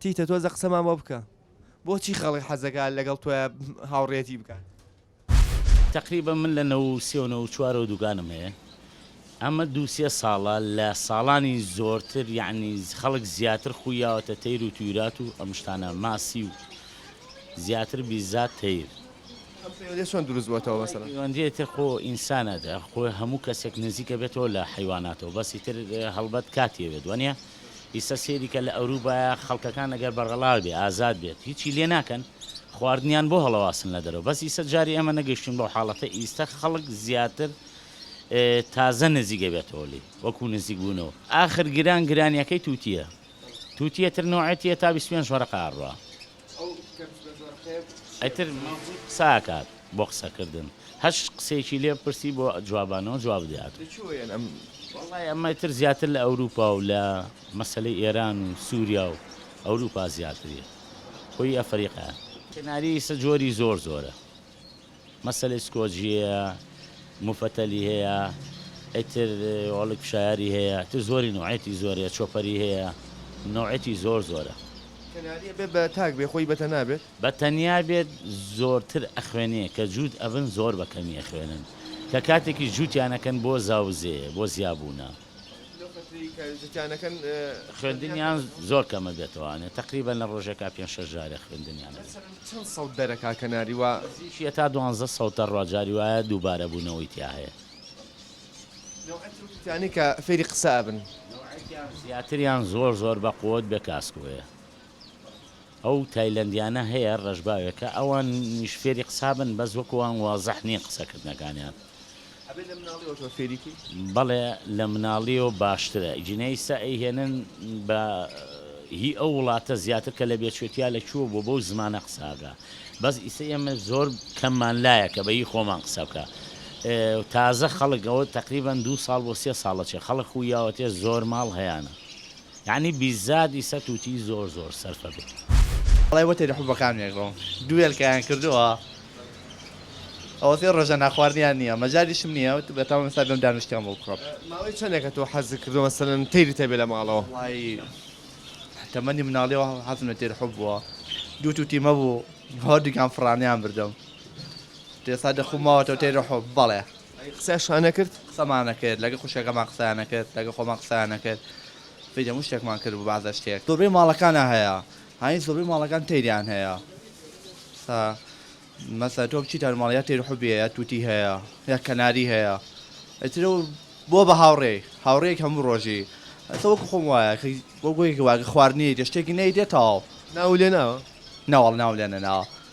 تیتە تۆزە قسەمان بۆ بکە بۆچی خەڵک حەزەکات لەگەڵ تۆیا هاوڕێیەتی بکات. تەقریبەن من لە نەوەو سێ و نەوەو چوارەوە دوکانم هەیە ئەمە دوو سێ ساڵە لە ساڵانی زۆرتر یەعنی خەڵک زیاتر خووی یاوەتە تەیر و تویرات و ئەم شتانە ماسی و زیاتر بیزات تەیر. ئەم پەیوەندیە چۆن دروست بۆتەوە مەسەلەن؟ پەیوەندیە ئیتر خۆ ئینسانە خۆ هەموو کەسێک نزیکە بێتەوە لە حەیواناتەوە بەس ئیتر هەڵبەت کاتی ئەوێت وەنیە؟ ئیستا سەیری کە لە ئەوروبایە خەڵکەکان ئەگەر بەڕەڵا بێ ئازاد بێت هیچی لێ ناکەن خواردنیان بۆ هەڵەواسن لە دەرەوە بەس ئیستا جاری ئێمە نەگەشتوین بەو حاڵەتە ئیستا خەڵک زیاتر تازە نزیک ئەبێتەوە لێی وەکو نزیک بونەوە ئاخر گران گرانیەکەی توتیە توتیە تر نۆعێتیە تا بیست و پێنج وەرەقە ئەڕوا. ئیتر قسە ئەکات بۆ قسە کردن هەر قسەیەکی لێ بپرسی بۆ جوابانەوە جواب دەیات. وەڵای ئەمە ئیتر زیاتر لە ئەوروپا و لە مەسەلەی ئێران و سوریا و ئەوروپا زیاتریە خۆی ئەفەریقایە. سیناریۆی ئیسە جۆری زۆر زۆرە. مەسەلەی سکۆجییە موفەتەلی هەیە ئیتر وەڵی کوشایاری هەیە ئیتر زۆری نوعێتی زۆرە چۆپەری هەیە نوعێتی زۆر زۆرە. کەناریە بێ بە تاک بێ خۆی بەتەنا بێت؟ بەتەنیا بێت زۆرتر ئەخوێنێ کە جووت ئەبن زۆر بەکەمی ئەخوێنن کە کاتێکیش جووتیان ئەکەن بۆ زاوزێ بۆ زیابوونە. خوێندنیان زۆر کەمە دەتوانێت تەقریبەن لە ڕۆژێکا پێنج شەش جارێ خوێندنیان هەبێت. نزیکی هەتا دوانزە سەوتە ڕا جاری وایە دووبارە بوونەوەی تیا هەیە. نەوعەکیان زیاتریان زۆر زۆر بە قوت بێ کاسکۆیە. ئەو تایلەندیانە هەیە ڕەشباوێکە ئەوانیش فێری قسابن بەس وەکو وان وازح نیە قسە کردنەکانیان. ئەبێ لە مناڵیەوە تۆ فێری کەی. بەڵێ لە مناڵیەوە باشترە ئیجینە ئیستا ئەی هێنن بە هی ئەو وڵاتە زیاتر کە لە بێچوتیا لە کوێ بوە بەو زمانە قسە ئەکا بەس ئیستا ئێمە زۆر کەممان لایە کە بە هی خۆمان قسە بکا تازە خەڵک ئەوە تەقریبەن دوو ساڵ بۆ سێ ساڵە چێ خەڵک خویاوەتێ زۆر ماڵ هەیانە یەعنی بیززات ئیسە توتی زۆر زۆر سەرفە بێ. ئەڵێ وەتێ لە حوبە کامنێک بم دوو هێلکەیان کردووە ئەوە سێ ڕۆژە ناخواردنیان نییە مەجالیشم نییە وت بەتام ئێستا بێم دانشتیان بۆ بکڕم. ماوەی چەندێکە تۆ حەزت کردووە مەسەلەن تەیرت هەبێ لە ماڵەوە؟ وەڵایی تەمەنی مناڵیەوە حەزم لە تێر حوب بووە دوو توتیم هەبوو هەردووکیان فڕانیان بردم ئێستا دەخووم ماوەتەوە تێر حوب بەڵێ. قسەشان نەکرد؟ قسەمان نەکرد، لەگەڵ خوشکەکەمان قسەیان نەکرد، لەگەڵ خۆمان قسەیان نەکرد، فیدی هەموو شتێکمان کرد بۆ بەعزە شتێک. زۆربەی ماڵەکانە هەیە هانی زۆربەی ماڵەکان تەیریان هەیە سا مەسە تۆ بچیتە ماڵ یا تەیر حوبی هەیە توتی هەیە یا کەناری هەیە ئەترە بۆ بە هاوڕێ هاوڕێک هەموو ڕۆژی ئەسە وەکو خۆم وایە بۆ گوێیکە واگە خواردنی دە شتێکی نەیدێتەوە ناو لێ ناوە ناوەڵ ناو لێنە ناوە.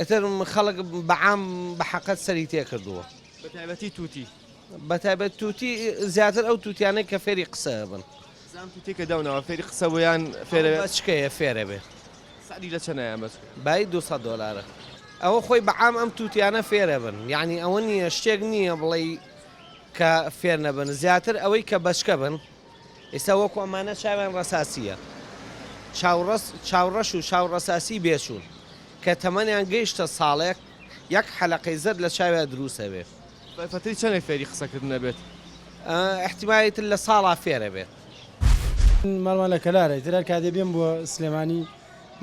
ئیتر خەڵک بە عام بە حەقەت سەری تێکردووە بە تایبەتی تووتی بە تایبەت تووتی زیاتر ئەو تووتیانەی کە فێری قسە بن زام تووتی کە داوناوە فێری قسە بۆیان فێرە بەچکەیە فێرە بێ سەری لە چەنایان بەس بای 200 دلارە ئەوە خۆی بە عام ئەم تووتیانە فێرە بن یعنی ئەوە نییە شتێک نییە بڵێ کە فێر نەبن زیاتر ئەوەی کە بەچکە بن ئیستا وەکو ئەمانە چاویان ڕەساسییە. چاوڕەس، چاوڕەش و چاوڕەساسی بێچوون، کە تەمەنیان گەیشتە ساڵێک، یەک حەلەقەی زەرد لە چاویا دروست ئەبێت. بە پەتری چەنێک فێری قسەکردن ئەبێت؟ ئیحتیمالی تر لە ساڵا فێر ئەبێت. ماڵمان لە کەلارە، ئیتر هەر کاتێ بێم بۆ سلێمانی،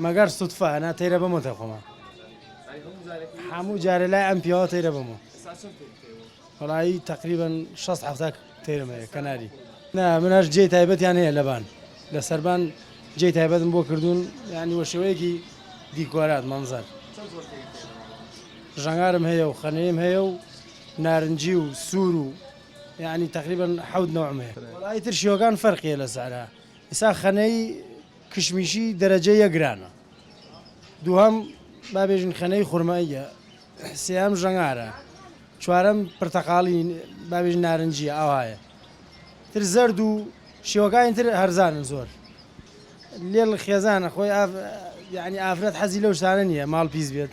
مەگەر سوتفە، ئەنا تەیرە بەمۆ تای خۆمان. هەموو جارێ لای ئەم پیاوە تەیرە بەمۆ. وەڵایی تەقریبەن شەست حەفتا تێرم هەیە کەناری. نا من هەر جێی تایبەتیان هەیە لەبان لە سەربان جێی تایبەتم بۆ کردوون یانی وە شێوەیەکی دیکۆرات مەنزەر ژەنگارم هەیە و خەنەیم هەیە و نارنجی و سوور و یانی تەقریبەن حەوت نەوعم هەیە وەڵایی تر شێوەکان فەرقیە لە سعرا ئیسا خەنەی کشمیشی دەرەجە یەک گرانە دووهەم با بێژین خەنەی خورماییە سێیەم ژەنگارە چوارەم پرتەقاڵی بابێژ نارنجیە ئاوایە تر زەرد و شێوەکانی تر هەرزانن زۆر لێڵ خێزانە خۆی یعنی ئافرەت حەزی لەو شتانە نییە ماڵ پیس بێت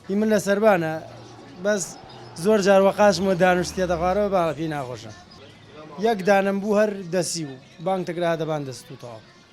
هی من لە سربانە بەس زۆر جار وە قاچمە دانوشتێتە خوارەوە باڵە پێی ناخۆشە یەک دانم بوو هەر دەسی و بانگ تەگرا دەبان دەستوتەوە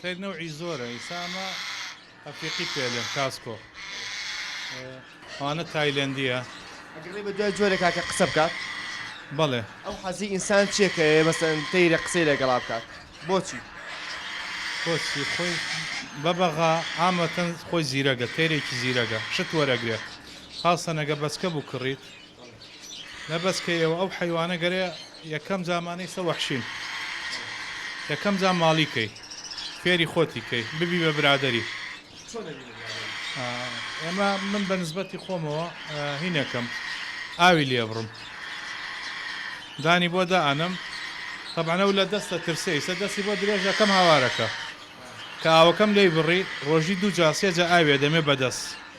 خیر نەوعی زۆرە ئیسا ئەمە ئەفریقی پێلێن کاسکۆ ئەوانە تایلەندیە ئەگەڕێ بە دوای جۆرە کاکە قسە بکات بەڵێ ئەو حەزی ئینسان چێکەیە مەسەن تەیرە قسەی لەگەڵا بکات بۆچی کۆچی خۆی بەبەغا ئامەتەن خۆی زیرەگە تێرێکی زیرەگە شت وەرەگرێت خاستەنەگە بەسکە بوو کڕیت نە بەس کە یەوە ئەو حەیوانە گەرە یەکەم زامانەی سە وەحشین یەکەم زام ماڵی کەی فێری خۆتی کەی ببی بە برادری ئێمە من بە نسبەتی خۆمەوە هینەکەم ئاوی لێبڕم دانی بۆ دائەنم تەبانە و لە دەستە ترسەی سە دەستی بۆ درێژەکەم هاوارەکە کە ئاوەکەم لی بڕی ڕۆژی دوو جاسێجە ئاوێ دەمێ بەدەست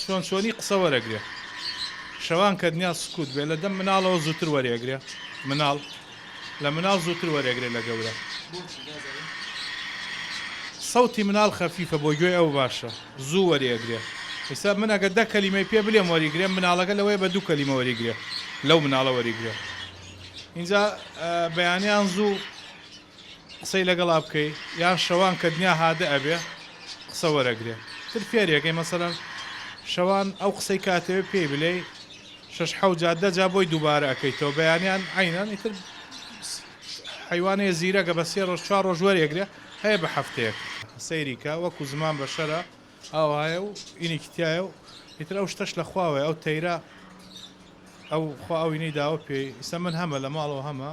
چۆن چۆنی قسە وەرەگرێ شەوان کە دنیا سکوت بێ لە دەم مناڵەوە زووتر وەرێگرێ مناڵ لە مناڵ زووتر وەرێگرێ لە گەورە سەوتی مناڵ خەفیفە بۆ گوێی ئەو باشە زوو وەرێگرێ ئیستا من ئەگە دە کەلیمەی پێ بلێم وەریگرێ مناڵەکە لەوەیە بە دوو کەلیمە وەریگرێ لەو مناڵە وەریگرێ ئینجا بەیانیان زوو قسەی لەگەڵا بکەی یان شەوان کە دنیا هادئ ئەبێ قسە وەرەگرێ تر فێری ئەکەی مەسەلەن شەوان ئەو قسەی کە ئەتەوێ پێی بلێی شەش حەوت جار دە جار بۆی دووبارە ئەکەیتەوە بەیانیان عەینەن ئیتر حەیوانێ زیرەکە بە سێ ڕۆژ چوار ڕۆژ وەرێگرێ هەیە بە حەفتەیەک سەیری کە وەکو زمان بەشەرە ئاوایە و ئینێکی تیایە و ئیتر ئەو شتەش لە خواوەیە ئەو تەیرە ئەو خوا ئەوینەی داوە پێی ئیستا من هەمە لە ماڵەوە هەمە.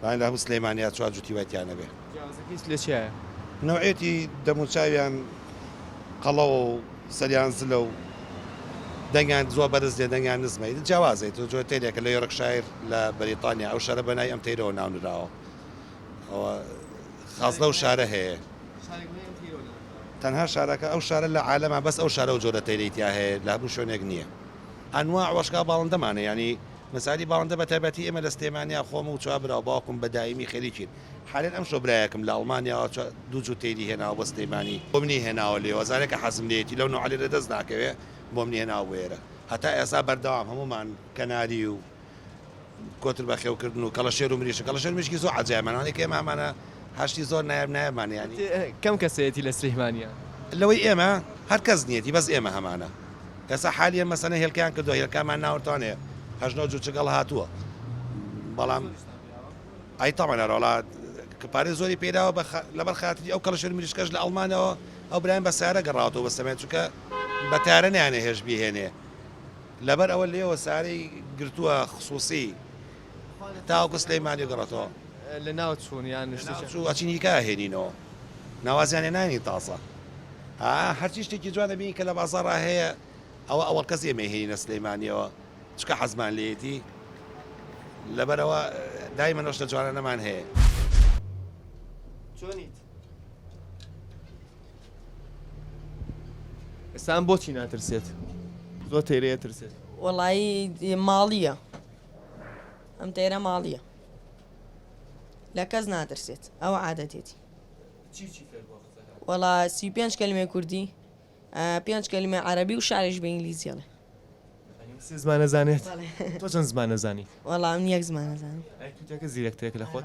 بەڵام لە هەموو سلێمانیا چوار جوتی وای تیا نەبێ. جیاوازەکەی لە چیایە؟ نەوعیەتی دەم و چاویان قەڵەوە و سەریان زلە و دەنگیان زۆر بەرز نیە دەنگیان نزمە ئیتر جیاوازە ئیتر جۆرە تەیرێکە لە یۆرکشایر لە بەریتانیا ئەو شارە بە ناوی ئەم تەیرەوە ناونراوە ئەوە خاس لەو شارە هەیە تەنها شارەکە ئەو شارە لە عالەما بەس ئەو شارە و جۆرە تەیرەی تیا هەیە لە هەموو شوێنێک نییە ئەنواع وەشکا باڵندەمانە یانی مەسالی باڵندە بە تایبەتی ئێمە لە سلێمانیا خۆم و چوار برا و باوکم بە دایمی خەریکین حالەن ئەمشۆ برایەکم لە ئەڵمانیاوە چوار دوو جوتێلی هێناوە بۆ سلێمانی بۆ منی هێناوە لێوە زارێکە حەزم لێیەتی لەو نوعە لێرە دەست ناکەوێ بۆ منی هێناوە بۆ ئێرە هەتا ئێستا بەردەوام هەموومان کەناری و کۆتر بەخێو کردن و کەڵەشێر و مریشک کەڵەشێر مریشکی زۆر عەجایبمان ئەوانەی کە ئێمە هەمانە هەشتی زۆر نایاب نایابمان یانی. کەم کەسێتی لە سلیمانیا؟ لەوەی ئێمە هەر کەس نیەتی بەس ئێمە هەمانە. ئێستا حالیەن مەسەنە هێلکەیان کردوە هێلکامان ناوەرتان هەیە هەشت نۆ جوچک هەڵە هاتووە بەڵام ئای تاوان هەرۆڵا پارێ زۆری پێداوە بە لەبەر خاتری ئەو کەڵشر مریشکەش لە ئەڵمانەوە ئەو برایان بە سارە گەڕاوەوە بە سەمێت چکە بە تارە نیانە هێش بهێنێ لەبەر ئەوە لێوە سارەی گرتووە خصوصی تاوەکو سلیمانی گەڕێتەوە لەناو چوون یان نشتیان چوو ئەچین هیکا هێنینەوە ناوازیان هێنانی تازە هەرچی شتێکی جوان دەبینی کە لە بازاڕا هەیە ئەوە ئەوەڵ کەس ئێمە هێنە سلەیمانیەوە چکە حەزمان لێتی لەبەرەوە دای منۆشتە جوانە نەمان هەیە چۆنیت ئێستان بۆچی ناترسێت زۆر تێرەیە ترسێت وەڵایی ماڵیە ئەم تەیرە ماڵیە لە کەس ناترسێت ئەو عادەتێتی وەڵا سی پێنج کەلمێ کوردی پێنج کەلمێ عربی و شارێش بە ئینگلیزیڵێ زمانە زانێت تۆ چەند زمانە زانی وەڵام یەک زمانە زانانی زیرەکتێک لە خۆت